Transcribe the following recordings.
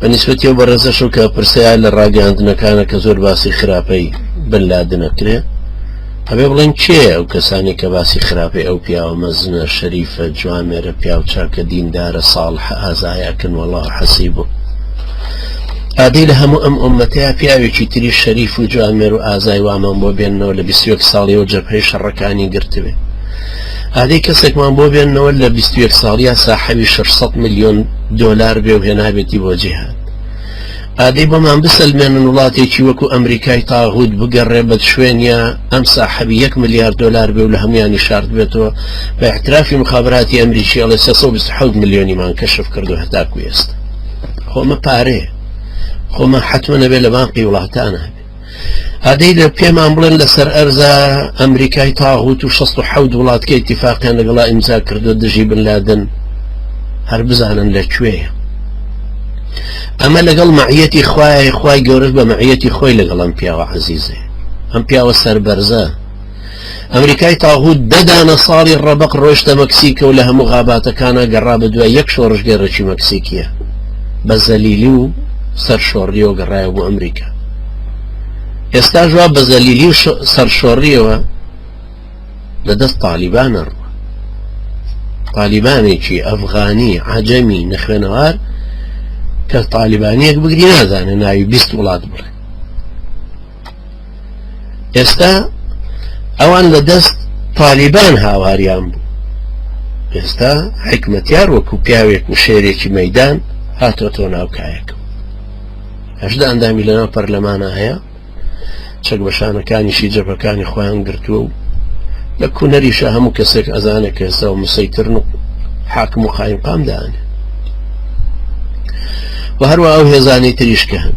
بە نیسبەتی ئەو بەڕێزەشو کە پرسەیە لە ڕاگەاندنەکانە کە زۆر باسی خراپەی بن لادنەکرێ هەبێ بڵێن کێ ئەو کەسانی کە باسی خراپەی ئەو پیاوە مەزنە شەریفە جوامێرە پیاوچاکە دیندارە ساڵح ئازایەکن وەڵا حەسی بوو ئادی لە هەموو ئەم ئۆمەتەیە پیاوێکی تری شەریف و جوامێر و ئازای وامان بۆ بێنەوە لە 21 ساڵیەوە جەپەی شەڕەکانی گرتبێ ئادەی کەسێکمان بۆ بێننەوە لە بیست و یەک ساڵیا ساحەبی شەش سەد ملیۆن دۆلار بێ و هێنابێتی بۆ جیهان ئادەی بۆمان بسەلمێنن وڵاتێکی وەکو ئەمریکای تاغوت بگەڕێ بە شوێنە ئەم ساحەبی یەک ملیار دۆلار بێ و لە هەمویانی شارد بێتەوە بە احترافی مخابراتی ئەمریکی ئەڵێ سێ سەد و بیست و حەوت ملیۆنیمان کەشف کردو هەتاکو ئێستا خۆمە پارەیە خۆمە حتممە نەبێ لە بانقی وڵاتانە ئادەی لە پێمان بڵێن لەسەر ئەرزا ئەمریکای تاغوت و 16 وڵاتکە ئیتفاقیان لەگەڵا ئیمزا کردو دژی بنلادن هەر بزانن لە کوێە ئەمە لەگەڵ معەتی خوای خوای گەورەش بە معەتی خۆی لەگەڵم پیاوە عزیزێ ئەم پیاوە سەربەرزە ئەمریکای تاغوت دە دانە ساڵی ڕەبق ڕۆشتە مەکسیکە و لە هەموو غاباتەکانە گەڕا بە دوای یەک شۆڕشگێڕێکی مەکسیکیە بە زەلیلی و سەر شۆڕیەوە گەڕایە بۆ ئەمریکا ئێستا ژوا بە زەلیلی و سەر شۆڕیەوە لە دەست تالیبانە ڕوە تالیبانێکی ئەفغانی عجەمی نەخوێنەوار کە تالیبانیەک بگری نازانێ ناوی بیست وڵات بڵێ ئێستا ئەوان لە دەست تالیبان هاواریان بوو ئێستا حکمەتیار وەکو پیاوێک و شێرێکی مەدان هاتۆ تۆ ناوکایەکە هەشدا ئەندامی لەناو پەرلەمانە هەیە چەک بەشانەکانیشی جەبەکانی خۆیان گرتووە و لە کوونەریشە هەموو کەسێک ئەزانێک کە ئێستا و مسەیترن و حاکم و قایم قامدانێ و هەروە ئەو هێزانی تریشکە هەن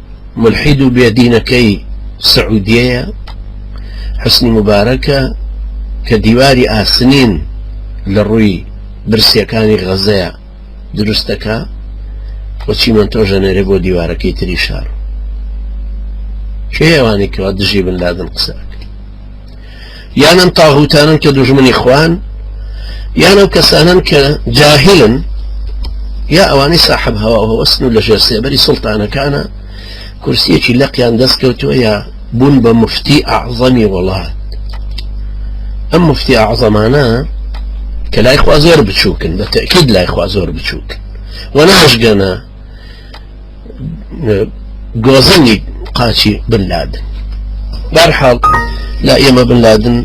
مولحید و بێ دینەکەی سعودیەیە حوسنی موبارەکە کە دیواری ئاسنین لە ڕووی برسیەکانی غەزەیا دروست دەکا و چیمەنتۆ ژەنێرێ بۆ دیوارەکەی تری شار کێ ئەوانی کەوا دژی بن لادن قسە یان ئەم تاغوتانن کە دوژمنی خوان یان ئەو کەسانن کە جاهلن یا ئەوانی ساحب هەوا هەوەستن و لە ژێر سێبەری سڵتانەکانە کورسیەکی لەقیان دەستکەوتووە یا بوون بە مفتی ئەعظەمی وڵات ئەم مفتی ئەعظەمانە کە لای خوا زۆر بچووکن بە تەکید لای خوا زۆر بچووک وە ناشگەنە گۆزەنی قاچی بن لادن بەرحاڵ لا ئێمە بن لادن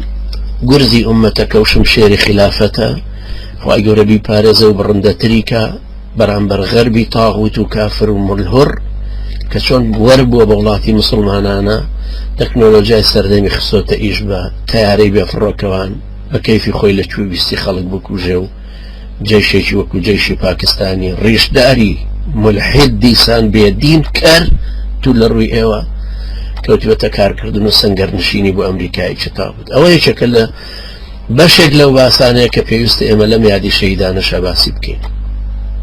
گورزی ئومەتەکە و شمشێری خلافەتە خی گەورەبی پارێزە و بڕندەتریکە بەرامبەر غەربی تاغوت و کافر و ملهڕ کە چۆن بوەر بووە بە وڵاتی مسلمانانە تەکنۆلۆژیای سەردەمی خسۆتە ئیش بە تیارەی بێفڕۆکەوان بە کەیفی خۆی لە کوێ ویستی خەڵک بکوژێ و جەیشێکی وەکو جەیشی پاکستانی ڕیشداری مولحید دیسان بێ دین کەر تو لە ڕووی ئێوە کەوتوێتە کارکردن و سنگەر نشینی بۆ ئەمریکای چتا بوو ئەوە یەکێکە لە بەشێک لەو باسانەیە کە پێویستە ئێمە لەم یادی شەیدانەشە باسی بکەین